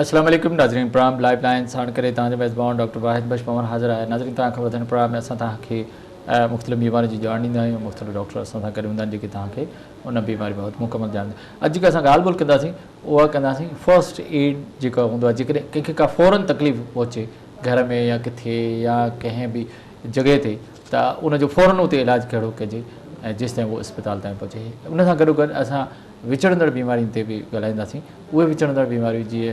اسلام عليڪم ناظرين پرام لائيو لائين ساڻ ڪري توهان جو ميزبان ڊاڪٽر واحد بخش پنور حاضر آهي ناظرين توهان کي وڌڻ پرام ۾ اسان توهان کي مختلف بيمارين جي ڄاڻ ڏيندا آهيون مختلف ڊاڪٽر اسان سان گڏ هوندا آهن جيڪي توهان کي ان بيماري بابت مڪمل ڄاڻ ڏيندا اڄ جيڪا اسان ڳالهه ٻولهه ڪنداسين اها ڪنداسين فرسٽ ايڊ جيڪا هوندو آهي جيڪڏهن ڪنهن کي ڪا فورن تڪليف پهچي گهر ۾ يا ڪٿي يا ڪنهن به جڳهه تي ته ان جو فورن اتي علاج ڪهڙو ڪجي ۽ جيستائين هو اسپتال تائين پهچي ان سان گڏو گڏ اسان وچڙندڙ بيمارين تي به ڳالهائينداسين اهي وچڙندڙ بيماريون جيئي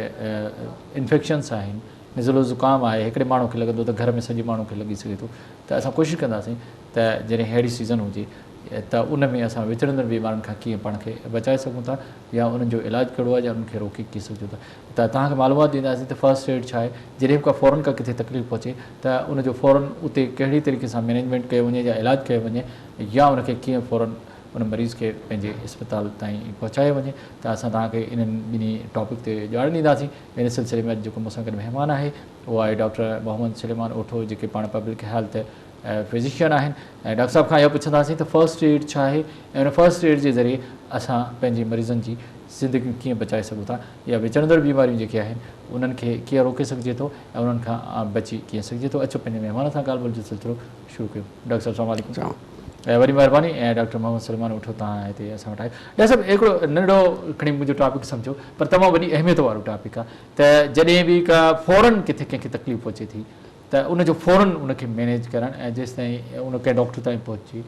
انفيڪشنس آهن نزلو زڪام آهي هڪڙي ماڻهو کي لڳندو ته گهر ۾ سڄي ماڻهو کي لڳي سگهي ٿو ته اسان ڪوشش ڪنداسين ته جڏهن ههڙي سيزن هجي ته ان ۾ اسان وچڙندڙ بيمارين کان ڪيئن پاڻ کي بچائي سگهون ٿا يا انهن جو علاج ڪهڙو آهي يا انهن کي روڪي ڪيئن سگهجون ٿا ته توهان کي معلومات ڏينداسين ته فرسٽ ايڊ ڇا آهي جڏهن به ڪا فورن ڪا ڪٿي تڪليف پهچي ته ان جو فورن اتي ڪهڙي طريقي سان مينيجمينٽ ڪيو وڃي يا علاج ڪيو وڃي يا ان کي ڪيئن فورن ان مريض کي پنهنجي اسپتال تائين پهچايو وڃي ته اسان توهان کي انهن ٻنهي ٽاپڪ تي ڄاڻ ڏينداسين ان سلسلي ۾ اڄ جيڪو مون سان گڏ مهمان آهي اهو آهي ڊاڪٽر محمد سليمان اوٺو جيڪي پاڻ پبلڪ هيلٿ فزيشن آهن ۽ ڊاڪٽر صاحب کان اهو پڇنداسين ته فرسٽ ايڊ ڇا آهي ۽ ان فرسٽ ايڊ جي ذريعي اسان پنهنجي مريضن جي زندگيون ڪيئن بچائي سگهون ٿا يا وچڙندڙ بيماريون جيڪي آهن انهن کي ڪيئن روڪي سگهجي ٿو ۽ انهن کان بچي ڪيئن سگهجي ٿو اچو پنهنجي مهمان سان ڳالهه ٻولهه جو سلسلو شروع ڪيو ڊاڪٽر صاحب سلام عليڪم سلام وڏي مهرباني ۽ ڊاڪٽر محمد سليمان اٺو تان هتي اسان وٽ آيو ڊاڪٽر صاحب هڪڙو ننڍڙو کڻي منهنجو ٽاپڪ سمجهو پر تمام وڏي اهميت وارو ٽاپڪ آ ته جڏهن به ڪا فورن ڪٿي ڪنهن کي تڪليف پهچي ٿي ته ان جو فورن ان کي مينيج ڪرڻ ۽ جيستائين ان ڪنهن ڊاڪٽر تائين پهچي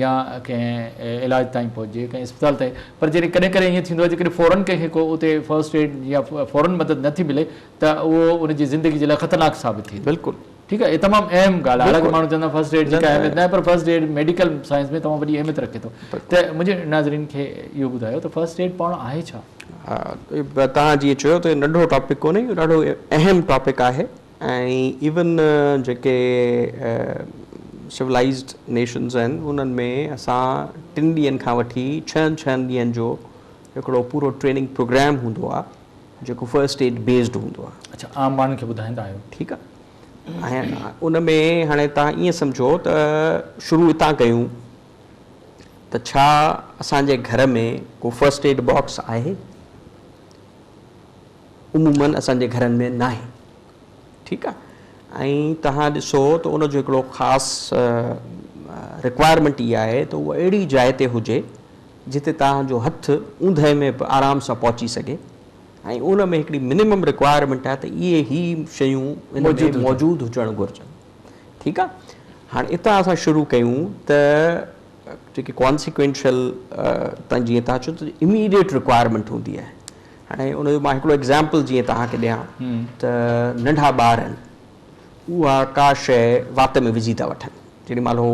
يا ڪنهن علاج تائين پهچجي ڪنهن اسپتال تائين پر جڏهن ڪڏهن ڪڏهن ائين ٿيندو آ جيڪڏهن فورن ڪنهن کي ڪو اتي فرسٽ ايڊ يا فورن مدد نه ٿي ملي ته اهو ان جي زندگي جي لاء خطرناڪ ثابت ٿئي ٿو بلڪل ٺيڪ آهي اهي تمام اهم ڳالهه آهي حالانڪه ماڻهو چوندا فرسٽ ايڊ جي ڪا اهميت ناهي پر فرسٽ ايڊ ميڊيڪل سائنس ۾ تمام وڏي اهميت رکي ٿو ته منهنجي ناظرين کي اهو ٻڌايو ته فرسٽ ايڊ پاڻ آهي ڇا؟ ها توهان جيئن چيو ته ننڍو ٽاپڪ ڪونهي اهو ڏاڍو اهم ٽاپڪ آهي ۽ ايون جيڪي سولائزڊ نيشنز آهن انهن ۾ اسان ٽن ڏينهن کان وٺي ڇهن ڇهن ڏينهن جو هڪڙو پورو ٽريننگ پروگرام هوندو آهي جيڪو فرسٽ اسٽيٽ بيسڊ هوندو آهي. اڇا عام ماڻهن کي ٻڌائيندا آهيو. ٺيڪ آ ۽ ان ۾ هاڻي تهان ائين سمجهو ته شروع اتان ڪيون ته ڇا اسان جي گهر ۾ ڪو فرسٽ ايڊ باڪس آهي؟ عمومن اسان جي گهرن ۾ ناهي ٺيڪ آ ۽ تهان ڏسو ته ان جو هڪڙو خاص رڪوائرمينٽ اها آهي ته اهو اهڙي جاء تي هجي جتي توهان جو هٿ اوندهه ۾ به آرام سان پهچي سگهي ۽ ان ۾ هڪڙي منيمم رڪوائرمينٽ آهي ته اهي هي شيون ان ۾ موجود هجڻ گهرجن ٺيڪ آهي هاڻي اتان اسان شروع ڪيون ته جيڪي ڪانسيڪوينشل تان جيئن توهان چيو ته اميڊيٽ رڪوائرمينٽ هوندي آهي هاڻي ان جو مان هڪڙو ايگزامپل جيئن توهان کي ڏيان ته ننڍا ٻار آهن اها ڪا شيء وات ۾ وجهي ٿا وٺن جيڏي مهل هو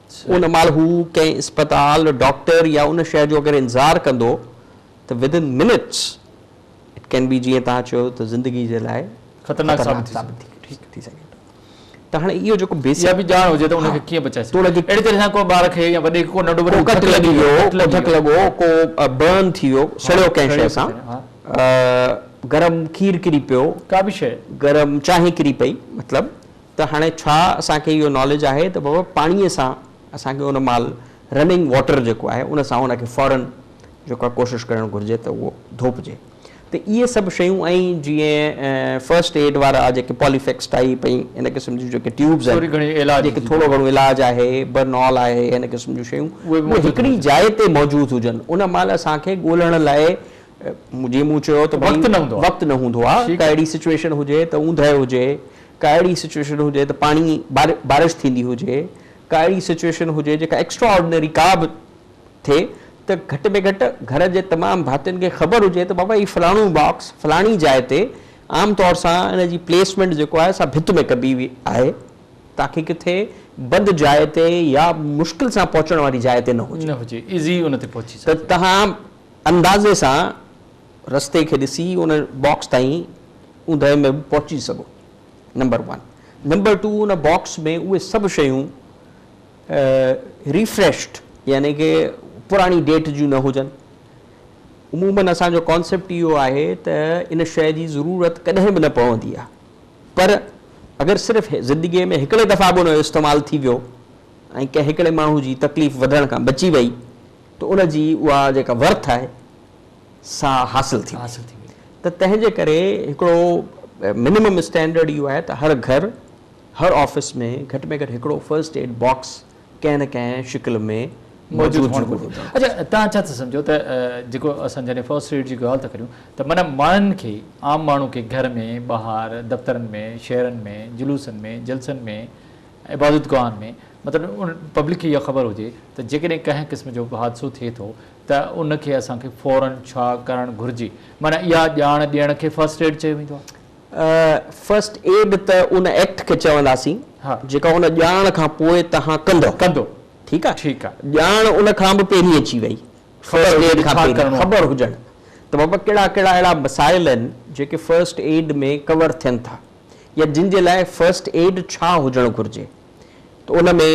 ان مهل هو ڪنهن اسپتال، ڊاڪٽر يا ان شيء جو اگر انتظار ڪندو ته Within Minutes It Can Be جيئن توهان چيو ته زندگي جي لاء خطرناڪ ثابت ٿي سگهي ٿو ته هاڻي اهو جيڪو بيسڪ اها به ڄاڻ هجي ته ان کي ڪيئن بچائي سگهجي ٿو اهڙي طرح سان ڪو ٻار کي يا وڏي کي ڪو ننڍو وڏو ڪٽ لڳي ويو، ڪو ڌڪ لڳو، ڪو Burn ٿي ويو، سڙيو ڪنهن شيء سان، گرم کير ڪري پيو، ڪا به شيء گرم چانهه ڪري پئي مطلب ته هاڻي ڇا اسان کي اهو ناليج آهي ته بابا پاڻيء سان اسان کي ان مال رننگ واٽر جيڪو آهي ان سان ان کي فورن جيڪو آهي ڪوشش ڪرڻ گهرجي ته اهو ڌوپجي ته اهي سڀ شيون ۽ جيئن فرسٽ ايڊ وارا جيڪي پالي فيڪس ٽائيپ ۽ ان قسم جون جيڪي ٽيوبز آهن جيڪي ٿورو گهڻو علاج آهي برنال آهي ان قسم جون شيون اهي هڪڙي جاء تي موجود هجن ان مال اسان کي ڳولڻ لاء جيئن مون چيو ته وقت نه هوندو آهي ڪا اهڙي سچويشن هجي ته اوندهه هجي ڪا اهڙي سچوئيشن هجي ته پاڻي بارش ٿيندي هجي، ڪا اهڙي سچوئيشن هجي جيڪا ايڪسٽرا آرڊنري ڪا به ٿئي ته گهٽ ۾ گهٽ گهر جي تمام ڀاتين کي خبر هجي ته بابا هي فلاڻو باڪس فلاڻي جاء تي عام طور سان ان جي پليسمينٽ جيڪو آهي سا ڀت ۾ ڪبي وئي آهي تاڪي ڪٿي بند جاء تي يا مشڪل سان پهچڻ واري جاء تي نه هجي ته توهان اندازي سان رستي کي ڏسي ان باڪس تائين اوندهه ۾ به پهچي سگهو نمبر ون نمبر ٽو ان باڪس ۾ اهي سڀ شيون ريفريشڊ يعني ڪي پراڻي ڊيٽ جون نه هجن عمومن اسان جو ڪانسيپٽ اهو آهي ته ان شيء جي ضرورت ڪڏهن به نه پوندي آهي پر اگر صرف زندگي ۾ هڪڙي دفعا به ان جو استعمال ٿي ويو ۽ ڪنهن هڪڙي ماڻهو جي تڪليف وڌڻ کان بچي وئي ته ان جي اها جيڪا ورٿ آهي سا حاصل ٿي ويندي ته تنهن جي ڪري هڪڙو منيمم اسٽينڊرڊ اهو آهي ته هر گهر هر آفيس ۾ گهٽ ۾ گهٽ هڪڙو فرسٽ ايڊ باڪس ڪنهن نه ڪنهن شڪل ۾ موجود هئڻ گهرجي اڇا توهان ڇا ٿا سمجهو ته جيڪو اسان جڏهن فرسٽ ايڊ جي ڳالهه ٿا ڪريون ته معنيٰ ماڻهن کي عام ماڻهو کي گهر ۾ ٻاهر دفترن ۾ شهرن ۾ جلوسن ۾ جلسن ۾ عبادت گاهن ۾ مطلب ان پبلڪ کي اها خبر هجي ته جيڪڏهن ڪنهن قسم جو به حادثو ٿئي ٿو ته ان کي اسان کي فورا ڇا ڪرڻ گهرجي؟ معنيٰ اها ڄاڻ ڏيڻ کي فرسٽ ايڊ چيو ويندو آهي. فرسٽ ايڊ ته ان ايڪٽ کي چونداسين جيڪا ان ڄاڻ کان پوء توهان ڪندؤ. ڪندو. ٺيڪ آهي. ٺيڪ آهي. ڄاڻ ان کان به پهرين اچي وئي. فرسٽ ايڊ کان پهرين خبر هجڻ ته بابا ڪهڙا ڪهڙا اهڙا مسائل آهن جيڪي فرسٽ ايڊ ۾ ڪور ٿين ٿا يا جن جي لاء فرسٽ ايڊ ڇا هجڻ گهرجي. ته ان ۾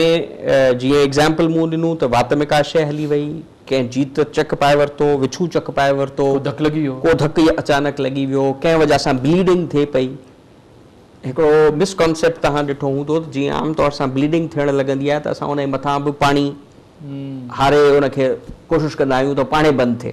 جيئن ايگزامپل مون ڏنو ته وات ۾ ڪا شيء هلي وئي، ڪنهن جيت چڪ پائي ورتو، وڇون چڪ پائي ورتو، ڪو ڌڪ لڳي ويو، ڪو ڌڪ يا اچانڪ لڳي ويو، ڪنهن وجهه سان بليڊنگ ٿئي پئي. هڪڙو مس ڪانسيپٽ توهان ڏٺو هوندو ته جيئن عام طور سان بليڊنگ ٿيڻ لڳندي آهي ته اسان ان جي مٿان به پاڻي هاري ان کي ڪوشش ڪندا آهيون ته پاڻهي بند ٿئي.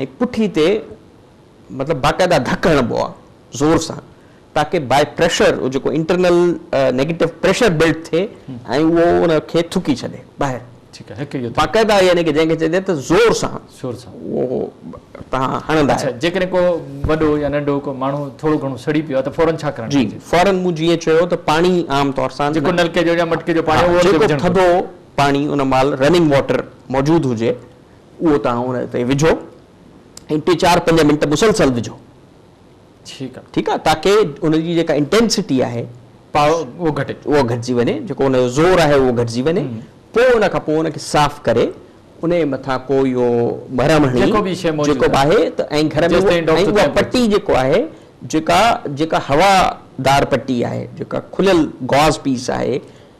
۽ پٺي تي مطلب باقاعده ڌڪ هڻبو آهي زور سان تاڪه باء پريشر جيڪو انٽرنل نيگيٽو پريشر بلڊ ٿئي ۽ اهو ان کي ٿڪي ڇڏي ٻاهر باقاعده يعني جنهن کي چئجي ته زور سان اهو تهان هڻندا آهيو. جيڪڏهن ڪو وڏو يا ننڍو ڪو ماڻهو ٿورو گهڻو سڙي پيو آهي ته فورن ڇا ڪرڻ گهرجي؟ جي فورن مون جيئن چيو ته پاڻي عام طور سان جيڪو نلڪي جو يا مٽڪي جو پاڻي اهو جيڪو ٿڌو پاڻي ان مهل رننگ واٽر موجود هجي اهو توهان ان تي وجهو ۽ ٽي چار پنج منٽ مسلسل وجهو ٺيڪ آ ٺيڪ آ تاڪي ان جي جيڪا انٽينسٽي آهي اهو گهٽي اهو گهٽجي وڃي جيڪو ان جو زور آهي اهو گهٽجي وڃي پوء ان کان پوء ان کي صاف ڪري ان جي مٿان ڪو اهو مرهم هڻي جيڪو به شي موجود جيڪو آهي ته ۽ گهر ۾ اها پٽي جيڪو آهي جيڪا جيڪا هوا دار پٽي آهي جيڪا کليل گاز پيس آهي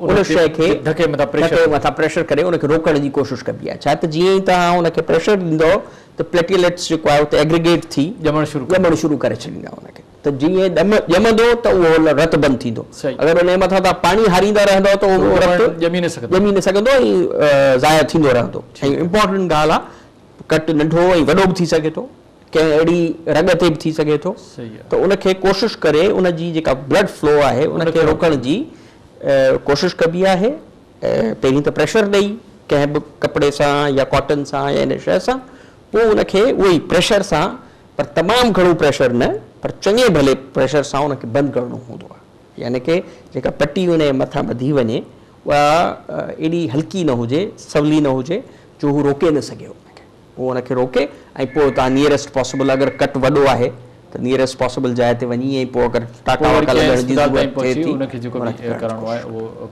ان شيء کي ڌڪي مٿان پريشر ڪري ان کي روڪڻ جي ڪوشش ڪبي آهي ڇا ته جيئن ئي توهان ان کي پريشر ڏيندؤ ته پليٽيليٽس جيڪو آهي اتي ايگريگيٽ ٿي ڄمڻ شروع ڪري ڇڏيندا ان کي ته جيئن ڄمندو ته اهو رت بند ٿيندو اگر ان جي مٿان توهان پاڻي هاريندا رهندؤ ته اهو رت ڄمي نه سگهندو ۽ ضايع ٿيندو رهندو ۽ امپورٽنٽ ڳالهه آهي ڪٽ ننڍو ۽ وڏو به ٿي سگهي ٿو ڪنهن اهڙي رڳ تي به ٿي سگهي ٿو ته ان کي ڪوشش ڪري ان جي جيڪا بلڊ فلو آهي ان کي روڪڻ جي ڪوشش ڪبي آهي پهرين ته پريشر ڏئي ڪنهن به ڪپڙي سان يا ڪاٽن سان يا ان شيء سان پوء ان کي اهو ئي پريشر سان پر تمام گهڻو پريشر نه پر چڱي ڀلي پريشر سان ان کي بند ڪرڻو هوندو آهي يعني ڪي جيڪا پٽي ان جي مٿان ٻڌي وڃي اها ايڏي هلڪي نه هجي سولي نه هجي جو هو روڪي نه سگهي ان کي. پوء ان کي روڪي ۽ پوء اتان نيئريسٽ پاسيبل اگر ڪٽ وڏو آهي ته نيئريسٽ پاسيبل جاء تي وڃي ۽ پوء اگر ٽاڪا واڪا لڳڻ جي ضرورت ٿئي ٿي ان کي ڪرڻ جي ڪوشش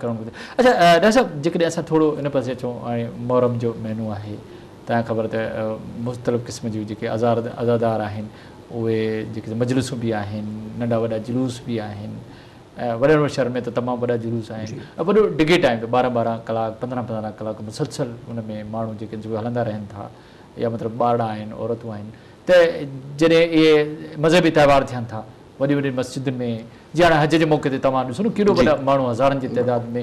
ڪرڻ. اڇا ڊاڪٽر صاحب جيڪڏهن اسان ٿورو ان پاسي اچون هاڻي محرم جو مهينو آهي تان خبر ته مختلف قسم جون جيڪي عزادار آهن اهي جيڪي مجلسون به آهن ننڍا وڏا جلوس به آهن وڏن وڏن شھرن ۾ ته تمام وڏا جلوس آھن ۽ وڏو ڊگھي ٽائيم تي ٻارهن ٻارهن ڪلاڪ پندرهن پندرهن ڪلاڪ مسلسل ان ۾ ماڻھو جيڪي جيڪي ھلندا رھن ٿا يا مطلب ٻارڙا آھن عورتون آھن ته جڏھن اھي مذھبي تھوار ٿين ٿا وڏين وڏين مسجدن ۾ جي ھاڻي حج جي موقعي تي توھان ڏسو نه ڪيڏو وڏا ماڻھو ھزارن جي تعداد ۾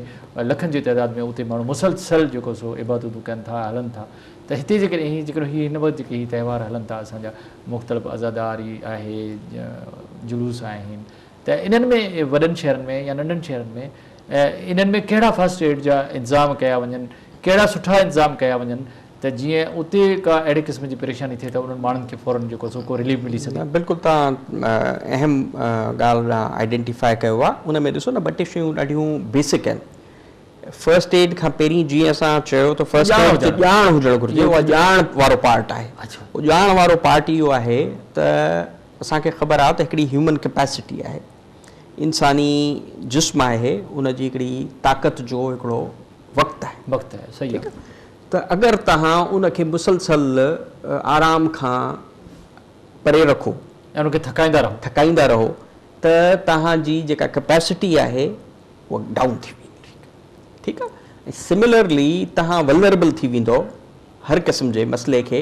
لکن جي تعداد ۾ اتي ماڻھو مسلسل جيڪو سو عبادتون ڪن ٿا ھلن ٿا ته ھتي جيڪڏھن ھي جيڪڏھن ھي ھن وقت جيڪي ھي تھوار ھلن ٿا اسان جا مختلف عزاداري آھي جلوس آھن ته انهن ۾ وڏن شهرن ۾ يا ننڍن شهرن ۾ انهن ۾ ڪهڙا فرسٽ ايڊ جا انتظام ڪيا وڃن، ڪهڙا سٺا انتظام ڪيا وڃن ته جيئن اتي ڪا اهڙي قسم جي پريشاني ٿئي ته انهن ماڻهن کي فورن جيڪو سو ڪو رليف ملي سگهي. بلڪل تهان اهم ڳالهه آئيڊينٽيفائي ڪيو آ ان ۾ ڏسو نه ٻه ٽي شيون ڏاڍيون بيسڪ آهن فرسٽ ايڊ کان پهرين جيئن اسان چيو ته فرسٽ ايڊ تي ڄاڻ هجڻ گهرجي اها ڄاڻ وارو پارٽ آهي اهو ڄاڻ وارو پارٽ اهو آهي ته اسان کي خبر آ ته هڪڙي هيومن ڪيپيسٽي آهي، انساني جسم آهي، ان جي هڪڙي طاقت جو هڪڙو وقت آهي. وقت آهي، صحيح آ. ٺيڪ آ، ته اگر توهان ان کي مسلسل آرام کان پري رکو. ۽ ان کي ٿڪائيندا رهو. ٿڪائيندا رهو ته توهان جي جيڪا ڪيپيسٽي آهي اها ڊائون ٿي ويندي. ٺيڪ آ. ۽ سملرلي توهان ولنربل ٿي ويندؤ هر قسم جي مسئلي کي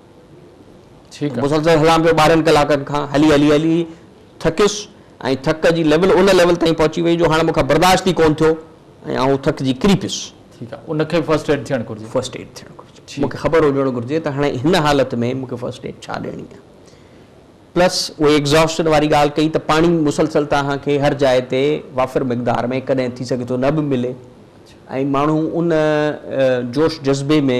مسلسل هلان پيو ٻارهن ڪلاڪن کان هلي هلي هلي ٿڪيس ۽ ٿڪ جي ليول ان ليول تائين پهچي وئي جو هاڻ مون کان برداشت ئي ڪون ٿيو ۽ آئون ٿڪجي ڪري پيس. ٺيڪ آهي ان کي فرسٽ ايڊ ٿيڻ گهرجي. فرسٽ ايڊ ٿيڻ گهرجي مون کي خبر هجڻ گهرجي ته هاڻي هن حالت ۾ مون کي فرسٽ ايڊ ڇا ڏيڻي آهي پلس اهي ايگزاسٽن واري ڳالهه ڪئي ته پاڻي مسلسل توهان کي هر جاء تي وافر مقدار ۾ ڪڏهن ٿي سگهي ٿو نه به ملي ۽ ماڻهو ان جوش جذبي ۾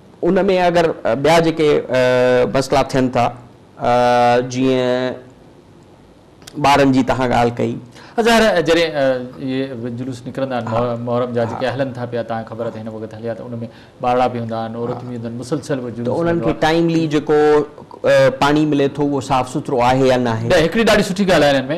ان ۾ اگر ٻيا جيڪي مسئلا ٿين ٿا جيئن ٻارن جي توهان ڳالهه ڪئي. ظاهر آهي جڏهن اهي جلوس نڪرندا آهن محرم جا جيڪي هلن ٿا پيا توهان کي خبر آهي ته هن وقت هليا ته ان ۾ ٻارڙا به هوندا آهن عورتون به هونديون آهن مسلسل اهو جلوس هلندو آهي ته انهن کي ٽائملي جيڪو پاڻي ملي ٿو اهو صاف سٿرو آهي يا ناهي. هڪڙي ڏاڍي سٺي ڳالهه آهي انهن ۾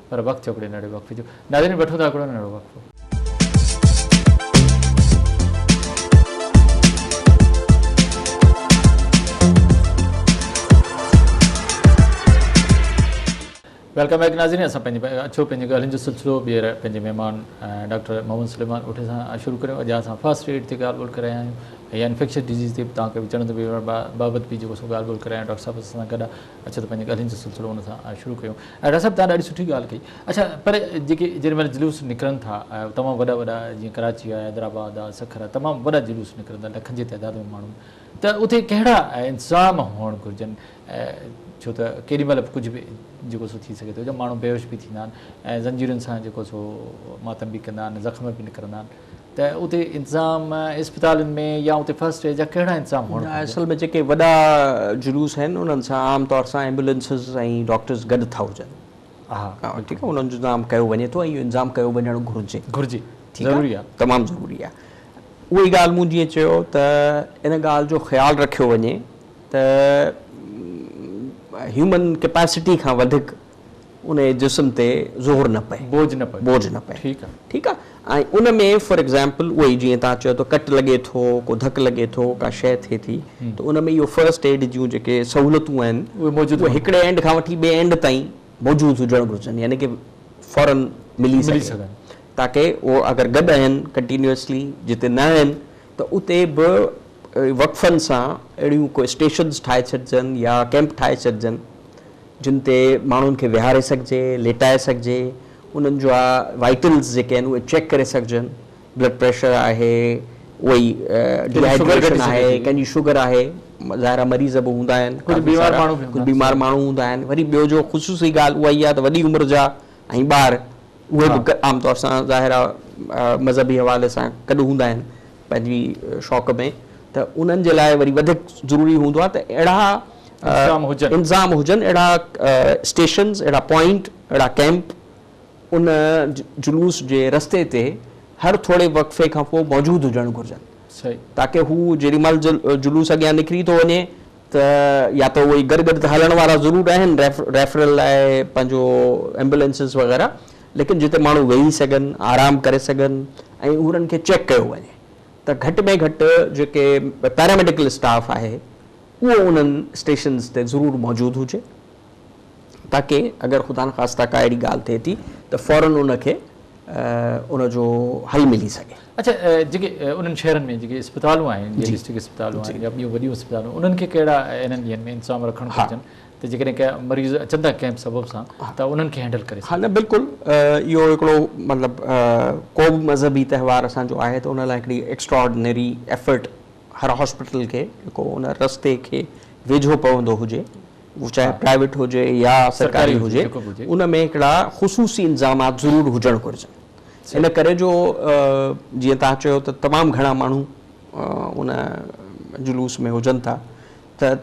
پر وقت جو ڪڏهن نڙيو وقفي جو ناظرين وٺون ٿا هڪڙو ننڍڙو وقفو. ويلڪم بيڪ ناظرين اسان پنهنجي اچو پنهنجي ڳالهين جو سلسلو ٻيهر پنهنجي مهمان ڊاڪٽر محمد سليمان اٺي سان شروع ڪريو اڄ اسان فرسٽ ايڊ تي ڳالهه ٻولهه ڪرايا آهيون يا انفيڪشس ڊيزيز تي تانکي به چڙندو بيمار بابت به جيڪو سو ڳالهه ٻولهه ڪرايا ڊاڪٽر صاحب اسان سان گڏ اچو ته پنهنجي ڳالهين جو سلسلو ان سان شروع ڪيون. ڊاڪٽر صاحب توهان ڏاڍي سٺي ڳالهه ڪئي. اڇا پر جيڪي جڏهن مهل جلوس نڪرن ٿا تمام وڏا وڏا جيئن ڪراچي آ حيدرآباد آ سکر آ تمام وڏا جلوس نڪرن ٿا لکن جي تعداد ۾ ماڻهو ته اتي ڪهڙا انتظام هئڻ گهرجن ڇو ته ڪيڏي مهل به ڪجهه به جيڪو سو ٿي سگهي ٿو جا ماڻهو بيهوش به ٿيندا آهن ۽ زنجيرن سان جيڪو سو ماتم به ڪندا آهن زخم به نڪرندا آهن. ته اتي انتظام اسپتالن ۾ يا اتي فرسٽ ايڊ جا ڪهڙا انتظام هئڻ گهرجن؟ اصل ۾ جيڪي وڏا جلوس آهن انهن سان عام طور سان ايمبولينسز ۽ ڊاڪٽرز گڏ ٿا هجن. ٺيڪ آهي انهن جو انتظام ڪيو وڃي ٿو ۽ اهو انتظام ڪيو وڃڻ گهرجي. گهرجي ضروري آهي. تمام ضروري آهي. اهو ئي ڳالهه مون جيئن چيو ته ان ڳالهه جو خيال رکيو وڃي ته هيومن ڪيپاسٽي کان وڌيڪ ان جي جسم تي زور نه پئي. بوجھ نه پئي. بوجھ نه پئي. ٺيڪ آ. ٺيڪ آ. ۽ ان ۾ فار ايگزامپل اهو ئي جيئن توهان چيو ته ڪٽ لڳي ٿو، ڪو ڌڪ لڳي ٿو، ڪا شيء ٿئي ٿي ته ان ۾ اهو فرسٽ ايڊ جون جيڪي سهولتون آهن اهي موجود هئڻ گهرجن. اهي هڪڙي اينڊ کان وٺي ٻئي اينڊ تائين موجود هجڻ گهرجن يعني ڪي فورن ملي سگهن. ملي سگهن. تاڪه اهو اگر گڏ آهن ڪنٽينيوسلي جتي نه آهن ته اتي به وقفن سان اهڙيون ڪو اسٽيشنز ٺاهي ڇڏجن يا ڪيمپ ٺاهي ڇڏجن جن تي ماڻهن کي ويهاري سگهجي، ليٽائي سگهجي، انهن جا وائيٽلز جيڪي آهن اهي چيڪ ڪري سگهجن، بلڊ پريشر آهي، اهو ئي ڊي هائيڊريشن آهي، ڪنهن جي شگر آهي، ظاهر آهي مريض به هوندا آهن، ڪجهه بيمار ماڻهو هوندا آهن، وري ٻيو جو خصوصي ڳالهه اها ئي آهي ته وڏي عمر جا ۽ ٻار اهي به عام طور سان ظاهر آ مذهبي حوالي سان گڏ هوندا آهن پنهنجي شوق ۾ ته انهن جي لاء وري وڌيڪ ضروري هوندو آ ته اهڙا انظام هجن اهڙا اسٽيشنز اهڙا پوائنٽ اهڙا ڪيمپ ان جلوس جي رستي تي هر ٿوري وقفي کان پوء موجود هجڻ گهرجن تاڪه هو جيڏي مهل جلوس اڳيان نڪري ٿو وڃي ته يا ته اهي گڏ گڏ ته هلڻ وارا ضرور آهن ريفرل لاء پنهنجو ايمبولينسز وغيره ليڪن جتي ماڻهو ويهي سگهن آرام ڪري سگهن ۽ انهن کي چيڪ ڪيو وڃي ته گهٽ ۾ گهٽ جيڪي پيراميڊيڪل اسٽاف آهي اهو انهن اسٽيشنز تي ضرور موجود هجي. تاڪه اگر خدا نخواسته ڪا اهڙي ڳالهه ٿئي ٿي ته فورن ان کي ان جو حل ملي سگهي. اڇا جيڪي انهن شهرن ۾ جيڪي اسپتالون آهن جي ڊسٽرڪٽ اسپتالون آهن يا ٻيون وڏيون اسپتالون انهن کي ڪهڙا انهن ڏينهن ۾ انتظام رکڻ گهرجن ته جيڪڏهن ڪا مريض اچن ٿا ڪنهن به سبب سان ته انهن کي هينڊل ڪري سگهجي. ها نه بلڪل اهو هڪڙو مطلب ڪو به مذهبي تهوار اسان جو آهي ته ان لاء هڪڙي ايڪسٽراآرڊنري ايفرٽ هر هاسپيٽل کي جيڪو ان رستي کي ويجهو پوندو هجي اهو چاهي پرائيويٽ هجي يا سرڪاري هجي ان ۾ هڪڙا خصوصي انتظامات ضرور هجڻ گهرجن ان ڪري جو جيئن توهان چيو ته تمام گهڻا ماڻهو ان جلوس ۾ هجن ٿا ته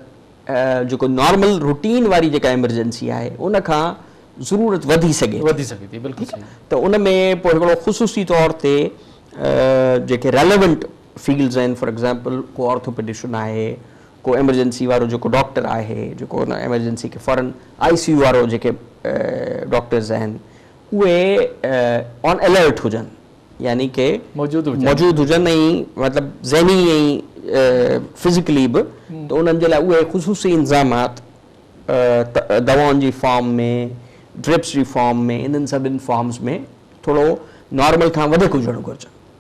جيڪو نارمل روٽين واري جيڪا ايمرجنسي آهي ان کان ضرورت وڌي سگهي وڌي سگهي ٿي بلڪل ته ان ۾ پوء هڪڙو خصوصي طور تي جيڪي ريليونٽ فيلڊز آهن فار ايگزامپل ڪو آرٿوپيڊيشن آهي ڪو ايمرجنسي وارو جيڪو ڊاڪٽر آهي، جيڪو ان ايمرجنسي کي فورن آئي سي يو وارو جيڪي ڊاڪٽرز آهن اهي آن الرٽ هجن يعني ڪي موجود هجن ۽ مطلب ذهني ۽ فزيڪلي به ته انهن جي لاء اهي خصوصي انظامات دوائن جي فارم ۾ ڊرپس جي فارم ۾ انهن سڀن فارمز ۾ ٿورو نارمل کان وڌيڪ هجڻ گهرجن.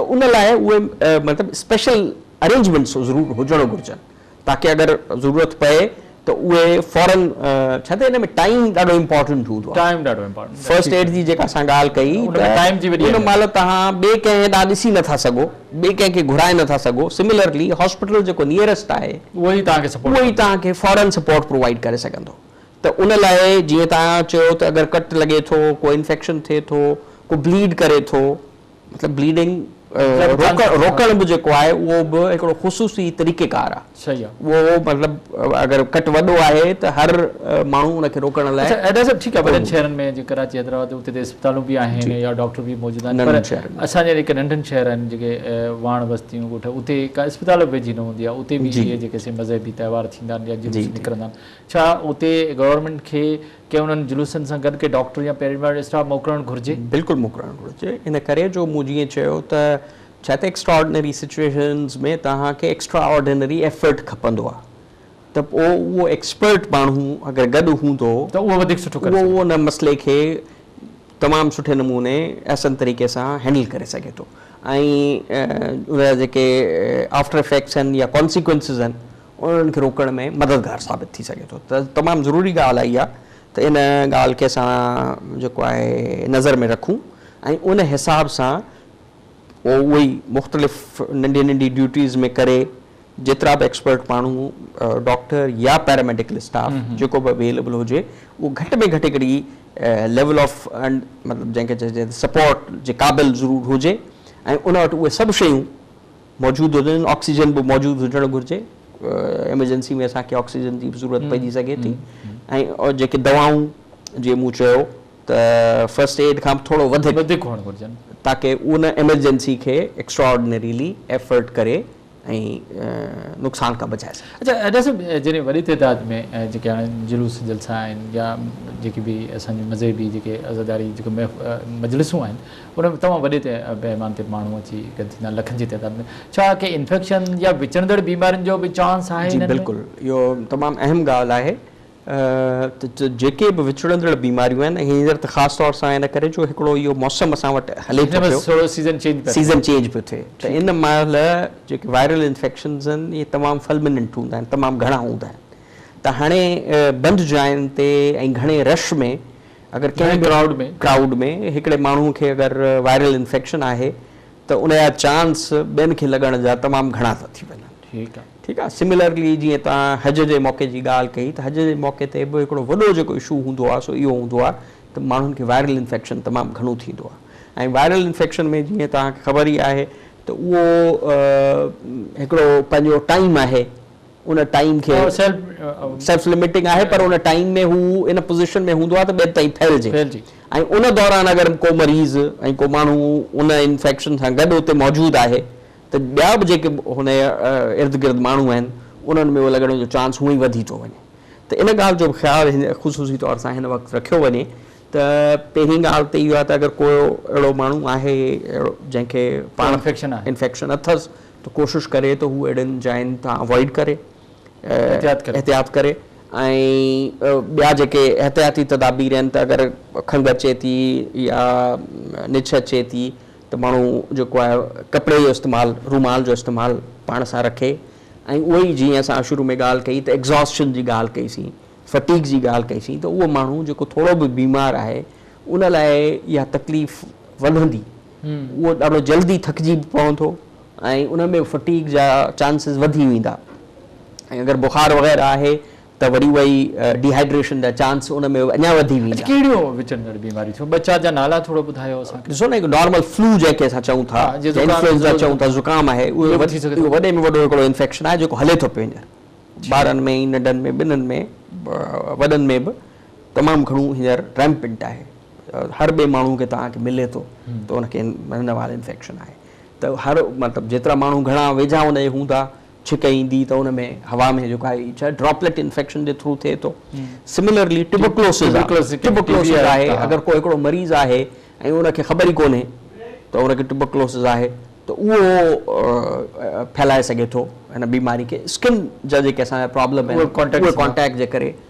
ته ان لاء اهي مطلب اسپيشل ارينجمينٽس ضرور هجڻ گهرجن تاڪه اگر ضرورت پئي ته اهي فورن ڇا ته ان ۾ ٽائيم ڏاڍو امپورٽنٽ هوندو آهي ٽائيم ڏاڍو امپورٽنٽ فرسٽ ايڊ جي جيڪا اسان ڳالهه ڪئي ان ۾ ٽائيم جي وڏي ان مهل تهان ٻئي ڪنهن ڏانهن ڏسي نٿا سگهو ٻئي ڪنهن کي گهرائي نٿا سگهو سملرلي هاسپيٽل جيڪو نيئرسٽ آهي اهو ئي تهان کي سپورٽ اهو ئي تهان کي فورن سپورٽ پرووائيڊ ڪري سگهندو ته ان لاء جيئن تهان چيو ته اگر ڪٽ لڳي ٿو ڪو انفيڪشن ٿئي ٿو ڪو بليڊ ڪري ٿو مطلب بليڊنگ روڪڻ به جيڪو آهي اهو به هڪڙو خصوصي طريقيڪار آهي اهو مطلب اگر ڪٽ وڏو آهي ته هر ماڻهو ان کي روڪڻ لاء اچا ايڊا صاحب ٺيڪ آهي وڏن شهرن ۾ جيئن ڪراچي حيدرآباد اتي ته اسپتالون به آهن يا ڊاڪٽر به موجود آهن پر اسان جهڙا جيڪي ننڍن شهر آهن جيڪي واڻ بستيون ڳوٺ اتي ڪا اسپتال به ويجهي نه هوندي آهي اتي به اهي جيڪي سي مذهبي تهوار ٿيندا آهن يا جلوس نڪرندا آهن ڇا اتي گورنمينٽ کي ڪي انهن جلوسن سان گڏ ڪي ڊاڪٽر يا پيراميڊڪل اسٽاف موڪلڻ گهرجي؟ بلڪل موڪلڻ گهرجي ان ڪري جو مون جيئن چيو ته ڇا ته ايڪسٽرارڊنري سچوئيشنز ۾ توهان کي ايڪسٽرا آرڊنري ايفرٽ کپندو آهي ته پوء اهو ايڪسپرٽ ماڻهو اگر گڏ هوندو ته اهو وڌيڪ سٺو ڪري سگهندو. اهو ان مسئلي کي تمام سٺي نموني احسن طريقي سان هينڊل ڪري سگهي ٿو ۽ ان جا جيڪي آفٽر افيڪٽس آهن يا ڪانسيڪوئنسز آهن انهن کي روڪڻ ۾ مددگار ثابت ٿي سگهي ٿو ته تمام ضروري ڳالهه اها آهي ته ان ڳالهه کي اسان جيڪو آهي نظر ۾ رکون ۽ ان حساب سان پوء اهو ئي مختلف ننڍي ننڍي ڊيوٽيز ۾ ڪري جيترا به ايڪسپرٽ ماڻهو ڊاڪٽر يا پيراميڊيڪل اسٽاف جيڪو به اويليبل هجي اهو گهٽ ۾ گهٽ هڪڙي ليول آف مطلب جنهن کي چئجي سپورٽ جي قابل ضرور هجي ۽ ان وٽ اهي سڀ شيون موجود هجن آڪسيجن به موجود هجڻ گهرجي ايمرجنسي ۾ اسان کي آڪسيجن جي به ضرورت پئجي سگهي ٿي ۽ جيڪي دوائون جي مون چيو ته فرسٽ ايڊ کان به ٿورو وڌيڪ هئڻ گهرجن تاڪي ان ايمرجنسي کي ايڪسٽراآرڊنريلي ايفرٽ ڪري ۽ نقصان کان بچائي سگهجي. اچا ادا صاحب جڏهن وڏي تعداد ۾ جيڪي هاڻي جلوس جلسا آهن يا جيڪي به اسان جون مذهبي جيڪي عزاداري جيڪي مجلسون آهن ان ۾ تمام وڏي پيماني تي ماڻهو اچي گڏ ٿيندا آهن لکن جي تعداد ۾، ڇا ڪي انفيڪشن يا وچڙندڙ بيمارين جو به چانس آهي انهن ۾؟ جي بلڪل اهو تمام اهم ڳالهه آهي ته جيڪي به وچڙندڙ بيماريون آهن هينئر ته خاص طور سان ان ڪري جو هڪڙو اهو موسم اسان وٽ هلي ٿو پيو ٿورو سيزن چينج پيو ٿئي سيزن چينج پيو ٿئي ته ان مهل جيڪي وائرل انفيڪشنز آهن اهي تمام فلمننٽ هوندا آهن تمام گهڻا هوندا آهن ته هاڻي بند جاين تي ۽ گهڻي رش ۾ اگر ڪنهن به ڪرائوڊ ۾ ڪرائوڊ ۾ هڪڙي ماڻهو کي اگر وائرل انفيڪشن آهي ته ان جا چانس ٻين کي لڳڻ جا تمام گهڻا ٿا ٿي وڃن. ٺيڪ آ. ٺيڪ آ سملرلي جيئن توهان حج جي موقعي جي ڳالهه ڪئي ته حج جي موقعي تي به هڪڙو وڏو جيڪو اشو هوندو آ سو اهو هوندو آ ته ماڻهن کي وائرل انفيڪشن تمام گهڻو ٿيندو آ ۽ وائرل انفيڪشن ۾ جيئن توهان کي خبر ئي آهي ته اهو هڪڙو پنهنجو ٽائيم آهي ان ٽائيم کي سيلف لمٽنگ آهي پر ان ٽائيم ۾ هو ان پوزيشن ۾ هوندو آهي ته ٻين تائين ڦهلجي ۽ ان دوران اگر ڪو مريض ۽ ڪو ماڻهو ان انفيڪشن سان گڏ اتي موجود آهي ته ٻيا به جيڪي هن جي ارد گرد ماڻهو آهن انهن ۾ اهو لڳڻ جو چانس هونئن ئي وڌي ٿو وڃي ته ان ڳالهه جو به خيال خصوصي طور سان هن وقت رکيو وڃي ته پهرين ڳالهه ته اهو آهي ته اگر ڪو اهڙو ماڻهو آهي جنهن کي پاڻ انفيڪشن اٿس ته ڪوشش ڪري ته هو اهڙين جاين تان اوائڊ ڪري احتياط ڪري ۽ ٻيا جيڪي احتياطي تدابير آهن ته اگر کنگهه اچي ٿي يا نڇ اچي ٿي ته ماڻهو جيڪو آهي ڪپڙي جو استعمال رومال جو استعمال پاڻ سان رکي ۽ اهو ئي جيئن اسان شروع ۾ ڳالهه ڪئي ته ايگزاسٽن جي ڳالهه ڪئي سين فٽيڪ جي ڳالهه ڪئي سين ته اهو ماڻهو جيڪو ٿورو به بيمار آهي ان لاء اها تڪليف وڌندي اهو ڏاڍو جلدي ٿڪجي به پوندو ۽ ان ۾ فٽيگ جا چانسز وڌي ويندا ۽ اگر بخار وغيره آهي ته وري اهي ڊي هائيڊريشن جا چانس ان ۾ اڃا وڌي ويندا. اچ ڪهڙيون وچڙندڙ بيماريون ٿيون ٻه چار جا نالا ٿورو ٻڌايو اسان کي. ڏسو نه هڪ نارمل فلو جنهن کي اسان چئون ٿا جي انفلوئنزا چئون ٿا زڪام آهي اهو وڌي سگهي ٿو وڏي ۾ وڏو هڪڙو انفيڪشن آهي جيڪو هلي ٿو پيو هينئر ٻارن ۾ ۽ ننڍن ۾ ٻنهن ۾ وڏن ۾ به. تمام گهڻو هينئر ريمپنٽ آهي هر ٻئي ماڻهو کي توهان کي ملي ٿو ته ان کي هن وائرل انفيڪشن آهي ته هر مطلب جيترا ماڻهو گهڻا ويجها ان جي هوندا ڇڪ ايندي ته ان ۾ هوا ۾ جيڪو آهي ڇا ڊراپليٽ انفيڪشن جي ٿرو ٿئي ٿو سملرلي ٽيبوڪلوسز ٽيبوڪلوسز آهي اگر ڪو هڪڙو مريض آهي ۽ ان کي خبر ئي ڪونهي ته ان کي ٽيبوڪلوسز آهي ته اهو ڦهلائي سگهي ٿو هن بيماري کي اسڪن جا جيڪي اسان جا پرابلم آهن اهي ڪانٽيڪٽ جي ڪري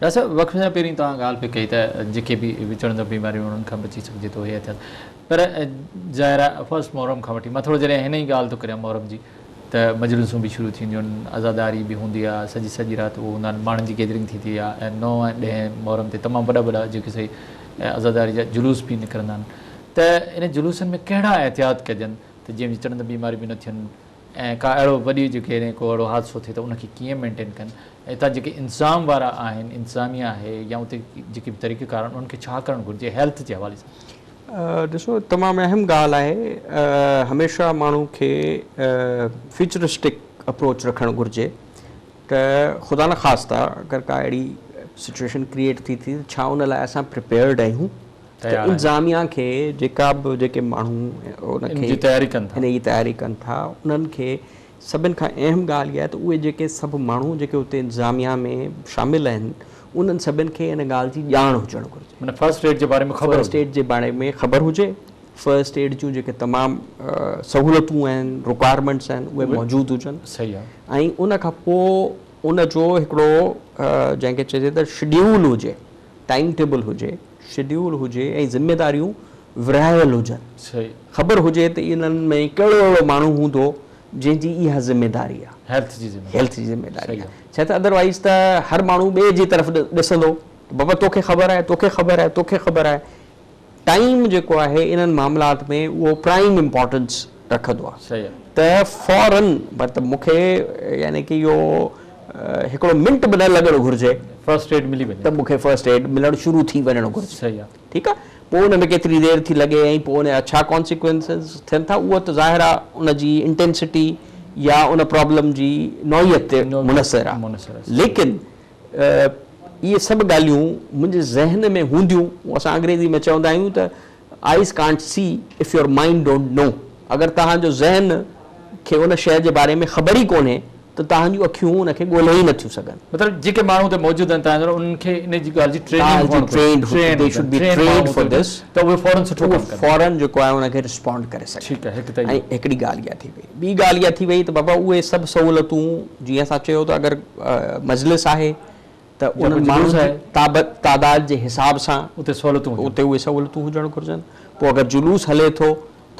ڊاڪٽر صاحب وقفي سان پهرين توهان ڳالهه پئي ڪئي ته جيڪي به وچڙندڙ بيماريون انهن کان بچي سگهجي ٿو هي ٿيل پر ظاهر آهي فرسٽ محرم کان وٺي مان ٿورو جڏهن هن ئي ڳالهه ٿو ڪريان محرم جي ته مجلسون به شروع ٿينديون آهن عزاداري به هوندي آهي سڄي سڄي رات اهو هوندا آهن ماڻهن جي گيدرنگ ٿيندي آهي ۽ نو ۽ ڏهين محرم تي تمام وڏا وڏا جيڪي سي عزاداري جا جلوس به نڪرندا آهن ته انهن جلوسن ۾ ڪهڙا احتياط ڪجن ته جيئن وچڙندڙ بيماريون به نه ٿين ۽ ڪا اهڙو وڏي جي ڪيرين ڪو اهڙو حادثو ٿئي ته ان کي ڪيئن مينٽين ڪن ۽ اتان جيڪي انتظام وارا آهن انتظاميه آهي يا اتي جيڪي به طريقه ڪار آهن انهن کي ڇا ڪرڻ گهرجي هيلٿ جي حوالي سان. ڏسو تمام اهم ڳالهه آهي هميشه ماڻهو کي فيوچرسٽڪ اپروچ رکڻ گهرجي ته خدا نه خاصتا اگر ڪا اهڙي سچويشن ڪريئيٽ ٿي ٿي ته ڇا ان لاء اسان پريپيئرڊ آهيون ته انتظاميا کي جيڪا به جيڪي ماڻهو ان کي ان جي تياري ڪن ٿا انهن کي سڀن کان اهم ڳالهه اها آهي ته اهي جيڪي سڀ ماڻهو جيڪي اتي انتظاميا ۾ شامل آهن انهن سڀن کي ان ڳالهه جي ڄاڻ هجڻ گهرجي معنيٰ فرسٽ ايڊ جي باري ۾ خبر فرسٽ ايڊ جي باري ۾ خبر هجي فرسٽ ايڊ جون جيڪي تمام سهولتون آهن رڪوائرمينٽس آهن اهي موجود هجن صحيح آهي ۽ ان کان پوء ان جو هڪڙو جنهن کي چئجي ته شيڊيول هجي ٽائيم ٽيبل هجي، شيڊيول هجي ۽ ذميداريون ورهايل هجن. خبر هجي ته انهن ۾ ڪهڙو اهڙو ماڻهو هوندو جنهن جي اها ذميداري آهي. هيلٿ جي ذميداري. هيلٿ جي ذميداري آهي. ڇا ته ادروائيز ته هر ماڻهو ٻئي جي طرف ڏسندو ته بابا توکي خبر آهي، توکي خبر آهي، توکي خبر آهي. ٽائيم جيڪو آهي انهن معاملات ۾ اهو پرائيم امپارٽنس رکندو آهي ته فورن مطلب مون کي يعني ڪي اهو هڪڙو منٽ به نه لڳڻ گهرجي ته مون کي فرسٽ ايڊ ملڻ شروع ٿي وڃڻ گهرجي ٺيڪ آهي پوء ان ۾ ڪيتري دير ٿي لڳي ۽ پوء ان جا ڇا ڪانسيڪوئنسز ٿين ٿا اهو ته ظاهر آهي ان جي انٽينسٽي يا ان پرابلم جي نوعيت تي منحصر آهي ليڪن اهي سڀ ڳالهيون منهنجي ذهن ۾ هونديون، اسان انگريزي ۾ چوندا آهيون ته Eyes can't see if your mind don't know اگر توهان جو ذهن کي ان شيء جي باري ۾ خبر ئي ڪونهي ته توهان جون اکيون ان کي ڳولهي ئي نٿيون سگهن. مطلب جيڪي ماڻهو اتي موجود آهن توهان جهڙا انهن کي ان جي ڳالهه جي ٽريننگ هئڻ گهرجي، They should be trained for this ته اهي فوراً سٺو ڪم ڪن. اهي فوراً جيڪو آهي ان کي رسپونڊ ڪري سگهن. ٺيڪ آهي هڪ ته اهو. ۽ هڪڙي ڳالهه اها ٿي پئي. ٻي ڳالهه اها ٿي وئي ته بابا اهي سڀ سهولتون جيئن اسان چيو ته اگر مجلس آهي ته انهن ماڻهن جي تعداد جي حساب سان اتي اهي سهولتون هجڻ گهرجن پوء اگر جلوس هلي ٿو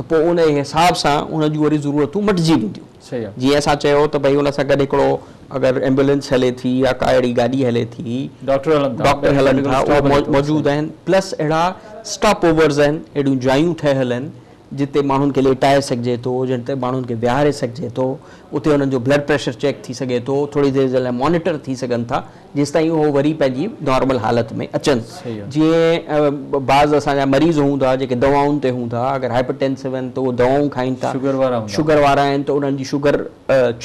ته پوء ان حساب سان ان جون وري ضرورتون مٽجي وينديون جيئن اسان چيو ته ڀئي ان سان گڏ هڪڙو اگر ايمبولينس هلي ٿي يا ڪا اهڙي گاڏي هلي ٿي ڊاڪٽر هلن ٿا اهي موجود آهن پلس اهڙا اسٽاپ اوورز آهن اهڙيون جايون ٺهيل آهن جتي ماڻهن کي ليٽائي سگهجي ٿو، جتي ماڻهن کي ويهاري سگهجي ٿو، اتي انهن جو بلڊ پريشر چيڪ ٿي سگهي ٿو، ٿوري دير جي لاء مانيٽر ٿي سگهن ٿا، جيستائين هو وري پنهنجي نارمل حالت ۾ اچن. جيئن بعض اسان جا مريض هوندا جيڪي دوائن تي هوندا، اگر هائپر ٽينسو آهن ته اهي دوائون کائين ٿا، شگر وارا آهن ته انهن جي شگر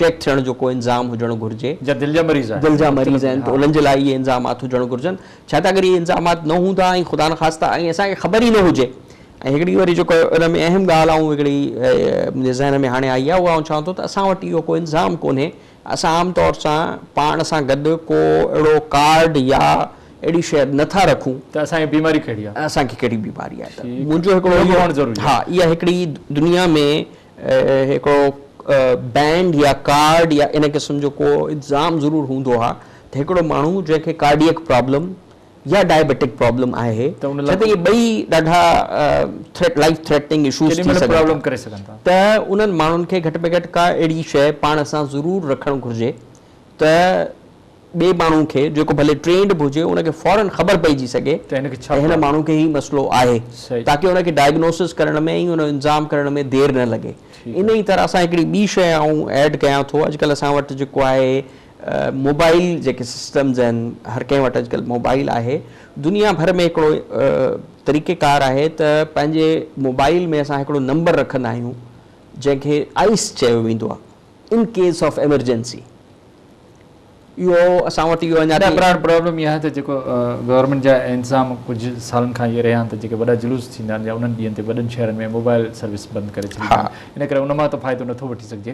چيڪ ٿيڻ جو ڪو انظام هجڻ گهرجي، جا دل جا مريض آهن، دل جا مريض آهن ته انهن جي لاء اهي انظامات هجڻ گهرجن، ڇا ته اگر اهي انظامات نه هوندا ۽ خدا نخواسته ۽ اسان کي خبر ئي نه هجي. ۽ هڪڙي وري جيڪو ان ۾ اهم ڳالهه آئون هڪڙي منهنجي ذهن ۾ هاڻي آئي آهي اها آئون چوان ٿو ته اسان وٽ اهو ڪو انظام ڪونهي اسان عام طور سان پاڻ سان گڏ ڪو اهڙو ڪارڊ يا اهڙي شيء نٿا رکون ته اسان کي بيماري ڪهڙي آهي اسان کي ڪهڙي بيماري آهي ته منهنجو هڪڙو اهو هئڻ ضروري آهي ها اها هڪڙي دنيا ۾ هڪڙو بينڊ يا ڪارڊ يا ان قسم جو ڪو انظام ضرور هوندو ها ته هڪڙو ماڻهو جنهن کي ڪارڊيئڪ پرابلم يا ڊائبيٽڪ پرابلم آهي ڇو ته اهي ٻئي ڏاڍا ٿريٽ لائيف ٿريٽننگ اشوز ٿي سگهن ٿا ته انهن ماڻهن کي گهٽ ۾ گهٽ ڪا اهڙي شيء پاڻ سان ضرور رکڻ گهرجي ته ٻئي ماڻهو کي جيڪو ڀلي ٽرينڊ به هجي ان کي فورن خبر پئجي سگهي ته هن ماڻهو کي هي مسئلو آهي تاڪه ان کي ڊائگنوسز ڪرڻ ۾ ۽ ان انظام ڪرڻ ۾ دير نه لڳي انهي طرح سان هڪڙي ٻي شيء آئون ايڊ ڪيان ٿو اڄڪلهه اسان وٽ جيڪو آهي موبائل جيڪي سسٽمز آهن هر ڪنهن وٽ اڄڪلهه موبائل آهي دنيا ڀر ۾ هڪڙو طريقي ڪار آهي ته پنهنجي موبائل ۾ اسان هڪڙو نمبر رکندا آهيون جنهن کي آئس چيو ويندو آهي ان ڪيس آف ايمرجنسي اهو اسان وٽ اهو اڃا تائين براڊ پرابلم اها آهي ته جيڪو گورنمينٽ جا انتظام ڪجهه سالن کان اهي رهيا آهن ته جيڪي وڏا جلوس ٿيندا آهن يا انهن ڏينهن تي وڏن شهرن ۾ موبائل سروس بند ڪري ڇڏي ويندي آهي ان ڪري ان مان ته فائدو نٿو وٺي سگهجي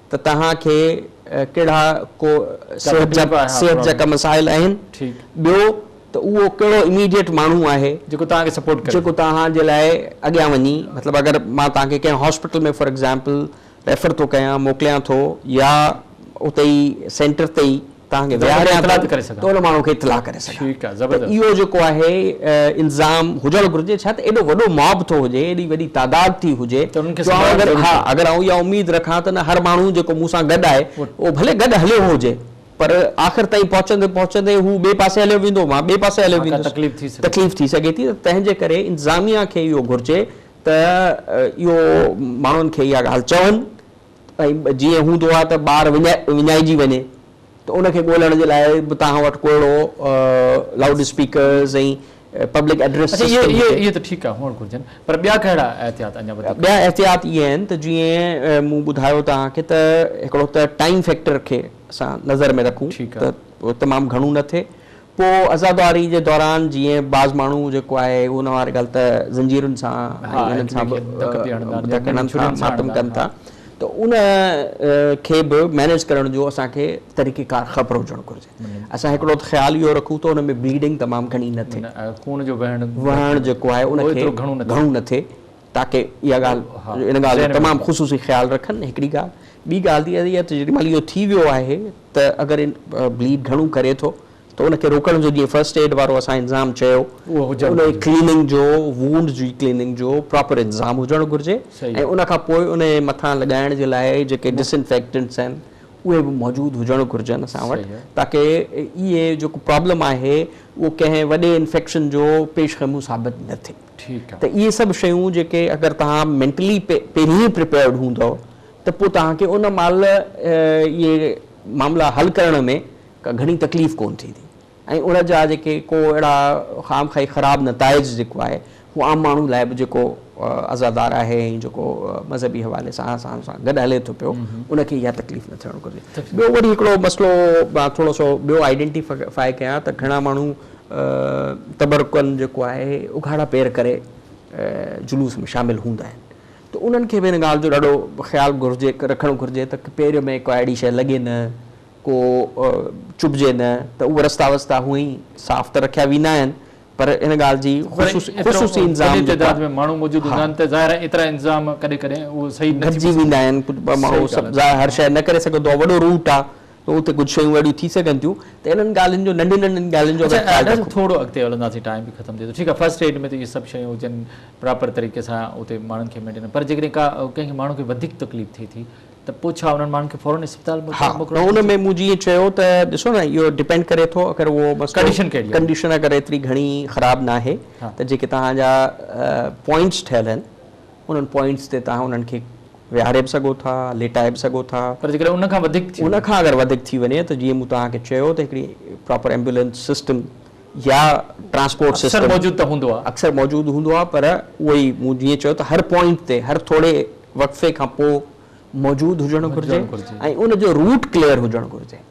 ته توهان کي ڪهڙا ڪو صحت جا صحت جا ڪا مسائل آهن ٻيو ته اهو ڪهڙو اميڊيٽ ماڻهو آهي جيڪو توهان کي سپورٽ ڪري جيڪو توهان جي لاء اڳيان وڃي مطلب اگر مان توهان کي ڪنهن هاسپيٽل ۾ فار ايگزامپل ريفر ٿو ڪيان موڪليان ٿو يا اتي ئي سينٽر تي ئي توهان کي ويهاريان ته ان ماڻهو کي اطلاع ڪري سگهان ته اهو جيڪو آهي الزام هجڻ گهرجي ڇا ته ايڏو وڏو ماب ٿو هجي ايڏي وڏي تعداد ٿي هجي ها اگر آئون اها اميد رکان ته نه هر ماڻهو جيڪو مون سان گڏ آهي اهو ڀلي گڏ هليو هجي پر آخر تائين پهچندي پهچندي هو ٻئي پاسي هليو ويندو مان ٻئي پاسي هليو ويندس تڪليف ٿي سگهي ٿي ته تنهن جي ڪري انتظاميا کي اهو گهرجي ته اهو ماڻهن کي اها ڳالهه چون ۽ جيئن هوندو آهي ته ٻار وڃائجي وڃي ته ان کي ڳولڻ جي لاء به توهان وٽ ڪو اهڙو loud speakers ۽ public address system هجي. اهي اهي ته ٺيڪ آهي هئڻ گهرجن پر ٻيا ڪهڙا احتياط اڃا وڌيڪ ڪجن؟ ٻيا احتياط اهي آهن ته جيئن مون ٻڌايو توهان کي ته هڪڙو ته ٽائيم فيڪٽر کي اسان نظر ۾ رکون ته تمام گهڻو نه ٿئي پوء عزاداري جي دوران جيئن بعض ماڻهو جيڪو آهي اهو نه واري ڳالهه ته زنجيرن سان ۽ انهن سان به ڌڪ هڻن ٿا، ماتم ڪن ٿا ته ان کي به مينيج ڪرڻ جو اسان کي طريقي ڪار خبر هجڻ گهرجي. اسان هڪڙو ته خيال اهو رکون ته ان ۾ بليڊنگ تمام گهڻي نه ٿئي. وهڻ جيڪو آهي ان کي گهڻو نه ٿئي. تاڪه اها ڳالهه ان ڳالهه جو تمام خصوصي خيال رکن هڪڙي ڳالهه ٻي ڳالهه اها ته جيڏي مهل اهو ٿي ويو آهي ته اگر بليڊ گهڻو ڪري ٿو ته ان کي روڪڻ جو جيئن فرسٽ ايڊ وارو اسان انظام چيو ان جي ڪليننگ جو وونڊ جي ڪليننگ جو پراپر انظام هجڻ گهرجي ۽ ان کان پوء ان جي مٿان لڳائڻ جي لاء جيڪي ڊس انفيڪٽنٽس آهن اهي به موجود هجڻ گهرجن اسان وٽ تاڪه اهي جيڪو پرابلم آهي اهو ڪنهن وڏي انفيڪشن جو پيش خيمون ثابت نه ٿئي ته اهي سڀ شيون جيڪي اگر توهان مينٽلي پهرين ئي پريپيئرڊ هوندؤ ته پوء توهان کي ان مهل اهي معاملا حل ڪرڻ ۾ ڪا گهڻي تڪليف ڪونه ٿيندي ۽ ان جا جيڪي ڪو اهڙا خام خواهي خراب نتائج جيڪو آهي هو عام ماڻهو لاء به جيڪو عزادار آهي ۽ جيڪو مذهبي حوالي سان اسان سان گڏ هلي ٿو پيو ان کي اها تڪليف نه ٿيڻ گهرجي. ٻيو وري هڪڙو مسئلو مان ٿورو سو ٻيو آئيڊينٽي فائي ڪيان ته گهڻا ماڻهو تبرڪن جيڪو آهي اگهاڙا پير ڪري جلوس ۾ شامل هوندا آهن ته انهن کي به ان ڳالهه جو ڏاڍو خيال گهرجي رکڻ گهرجي ته پير ۾ ڪا اهڙي شيء لڳي نه ڪو چڀجي نه ته اهي رستا وستا هونئن ئي صاف ته رکيا ويندا آهن پر ان ڳالهه جي خصوصي انظام جيڪا گهٽجي ويندا آهن ڪجهه ماڻهو سڀ ظاهر هر شيء نه ڪري سگهندو آهي وڏو روٽ آهي ته اتي ڪجهه شيون اهڙيون ٿي سگهن ٿيون ته انهن ڳالهين جو ننڍين ننڍين ڳالهين جو اگر خيال رکون. ٿورو اڳتي هلنداسين ٽائيم به ختم ٿئي ٿو ٺيڪ آهي فرسٽ ايڊ ۾ ته اهي سڀ شيون هجن پراپر طريقي سان اتي ماڻهن کي مينٽينن پر جيڪڏهن ڪا ڪنهن کي ماڻهو کي وڌيڪ تڪليف ٿئي ٿي ته پوء ڇا انهن ماڻهن کي فورن اسپتال موڪلڻ گهرجي. ان ۾ مون جيئن چيو ته ڏسو نه اهو ڊپينڊ ڪري ٿو اگر اهو مسئلو ڪنڊيشن اگر ايتري گهڻي خراب ناهي ته جيڪي توهان جا پوائنٽس ٺهيل آهن. انهن پوائنٽس تي توهان انهن کي ويهاري به سگهو ٿا، ليٽائي به سگهو ٿا. پر جيڪڏهن ان کان وڌيڪ ٿي وڃي. ان کان اگر وڌيڪ ٿي وڃي ته جيئن مون توهان کي چيو ته هڪڙي پراپر ايمبولينس سسٽم يا ٽرانسپورٽ سسٽم. اڪثر موجود ته هوندو آهي. اڪثر موجود هوندو آهي پر اهو ئي مون جيئن چيو ته هر پوائنٽ تي هر ٿوري وقفي کان پوء موجود هجڻ گهرجي ۽ ان جو روٽ ڪليئر هجڻ گهرجي.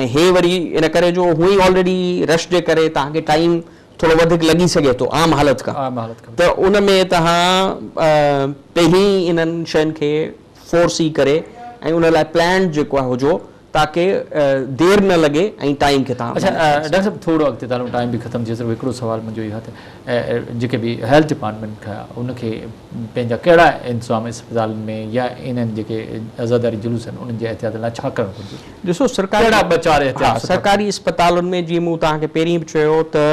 ۽ هي وري ان ڪري جو هونئن ئي آلريڊي رش جي ڪري توهان کي ٽائيم ٿورو وڌيڪ لڳي سگهي ٿو عام حالت کان ته ان ۾ توهان پهرين ئي انهن شين کي فور سي ڪري ۽ ان لاء پلانڊ جيڪو آهي هجو تاڪه دير نه لڳي ۽ ٽائيم کي توهان مينيج ڪري سگهو. ڊاڪٽر صاحب ٿورو اڳتي ته هلون ٽائيم به ختم ٿئي صرف هڪڙو سوال منهنجو اهو آهي ته جيڪي به هيلٿ ڊپارٽمينٽ کي ان کي پنهنجا ڪهڙا انتظام اسپتالن ۾ يا انهن جيڪي عزاداري جلوس آهن انهن جي احتياطن لاء ڇا ڪرڻ گهرجي؟ ڏسو سرڪاري ڪهڙا ٻه چار احتياط ها سٽا؟ سرڪاري اسپتالن ۾ جيئن مون توهان کي پهرين به چيو ته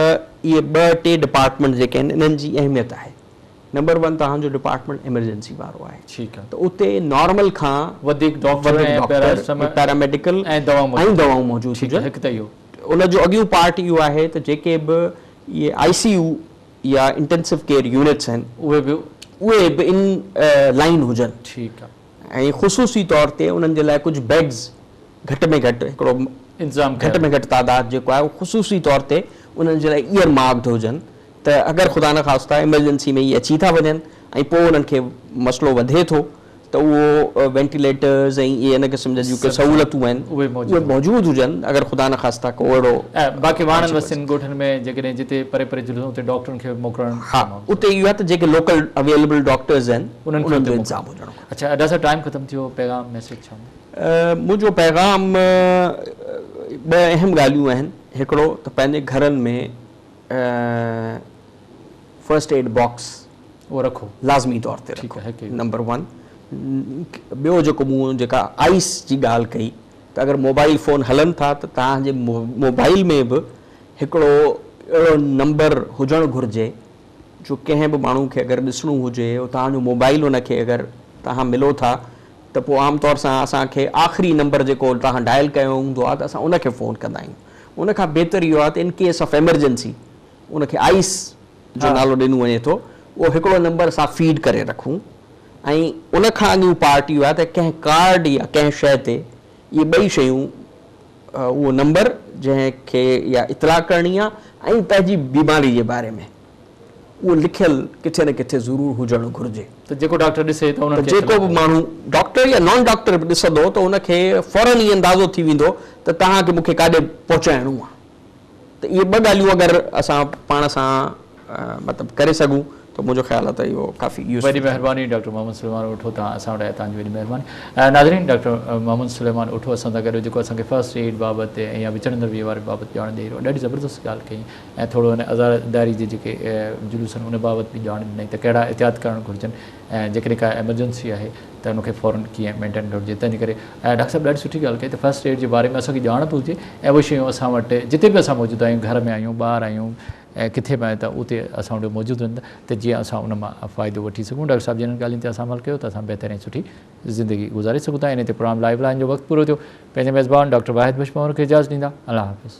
اهي ٻه ٽي ڊپارٽمينٽ جيڪي آهن انهن جي اهميت آهي نمبر ون توهان جو ڊپارٽمينٽ ايمرجنسي وارو آهي ٺيڪ آهي ته اتي نارمل کان وڌيڪ ڊاڪٽر وڌيڪ ۽ ڊاڪٽر پيراسٽم ۽ پيراميڊيڪل ۽ دوا ۽ موجود دواؤن هجن موجود ٺيڪ آهي هجن هڪ ته اهو ان جو اڳيون پارٽ اهو آهي ته جيڪي به اهي آئي سي يو يا انٽينسو ڪيئر يونٽس آهن اهي به اهي به ان لائين هجن ٺيڪ آهي. ۽ خصوصي طور تي انهن جي لاء ڪجهه بيڊز گهٽ ۾ گهٽ هڪڙو گهٽ ۾ گهٽ تعداد جيڪو آهي اهو خصوصي طور تي انهن جي لاء ايئر مارڪڊ هجن ته اگر خدا نخواسته ايمرجنسي ۾ اهي اچي ٿا وڃن ۽ پوء انهن کي مسئلو وڌي ٿو ته اهو وينٽيليٽرز ۽ اهي ان قسم جا جيون ڪي سهولتون آهن اهي موجود هجن اگر خدا نخواسته ڪو اهڙو باقي واڻن وستين ڳوٺن ۾ جيڪڏهن جتي پري پري جلسون اتي ڊاڪٽرن کي به موڪلڻ ها اتي اهو آهي ته جيڪي لوڪل اويليبل ڊاڪٽرز آهن انهن جو انتظام هجي. اچھا ادا صاحب ٽائيم ختم ٿيو پيغام ميسج ڇا هوندو. منهنجو پيغام ٻه اهم ڳالهيون آهن هڪڙو ته پنهنجي گهرن ۾ فرسٽ ايڊ باڪس اهو رکو لازمي طور تي رکو نمبر ون ٻيو جيڪو مون جيڪا آئيس جي ڳالهه ڪئي ته اگر موبائل فون هلن ٿا ته توهان جي موبائل ۾ به هڪڙو اهڙو نمبر هجڻ گهرجي جو ڪنهن به ماڻهو کي اگر ڏسڻو هجي او توهان جو موبائل ان کي اگر توهان ملو ٿا ته پوء عام طور سان اسان کي آخري نمبر جيڪو توهان ڊائل ڪيو هوندو آهي ته اسان ان کي فون ڪندا آهيون ان کان بهتر اهو آهي ته ان ڪيس آف ايمرجنسي ان کي آئيس جو نالو ڏنو وڃي ٿو اهو هڪڙو نمبر اسان فيڊ ڪري رکون ۽ ان کان اڳيون پارٽ اهو آهي ته ڪنهن ڪارڊ يا ڪنهن شيء تي اهي ٻئي شيون اهو نمبر جنهن کي اها اطلاع ڪرڻي آهي ۽ پنهنجي بيماري جي باري ۾ اهو لکيل ڪٿي نه ڪٿي ضرور هجڻ گهرجي ته جيڪو ڊاڪٽر ڏسي ته انهن کي اطلاع ڪري. جيڪو به ماڻهو ڊاڪٽر يا نان ڊاڪٽر به ڏسندو ته ان کي فورن هي اندازو ٿي ويندو ته توهان کي مون کي ڪاڏي پهچائڻو آهي. ته اهي ٻه ڳالهيون اگر اسان پاڻ سان مطلب ڪري سگهون ته منهنجو خيال آ ته اهو ڪافي يوز وڏي مهرباني ڊاڪٽر محمد سليمان اٺو تان اسان وٽ آيا توهان جي وڏي مهرباني ناظرين ڊاڪٽر محمد سليمان اٺو اسان سان گڏ جيڪو اسان کي فرسٽ ايڊ بابت ۽ يا وچڙندڙ ويهه واري بابت ڄاڻ ڏئي رهيو ڏاڍي زبردست ڳالهه ڪئي ۽ ٿورو هن عزاداري جي جيڪي جلوسن ان بابت به ڄاڻ ڏنائين ته ڪهڙا احتياط ڪرڻ گهرجن ۽ جيڪڏهن ڪا ايمرجنسي آهي ته ان کي فورن ڪيئن مينٽين گهرجي تنهنجي ڪري ۽ ڊاڪٽر صاحب ڏاڍي سٺي ڳالهه ڪئي ته فرسٽ ايڊ جي باري ۾ اسان کي ڄاڻ به هجي ۽ اهي شيون اسان وٽ جتي به اسان موجود آهيون گهر ۾ آهيون ٻاهر آهيون ۽ ڪٿي به آهيون ته اتي اسان وٽ موجود هجن ته جيئن اسان ان مان فائدو وٺي سگهون ڊاڪٽر صاحب جن ان ڳالهين تي اسان عمل ڪيو ته اسان بهتر ۽ سٺي زندگي گذاري سگهون ٿا انهي تي پروگرام لائيو لائن جو وقت پورو ٿيو پنهنجي ميزبان ڊاڪٽر واحد بشمور کي اجازت ڏيندا الله حافظ.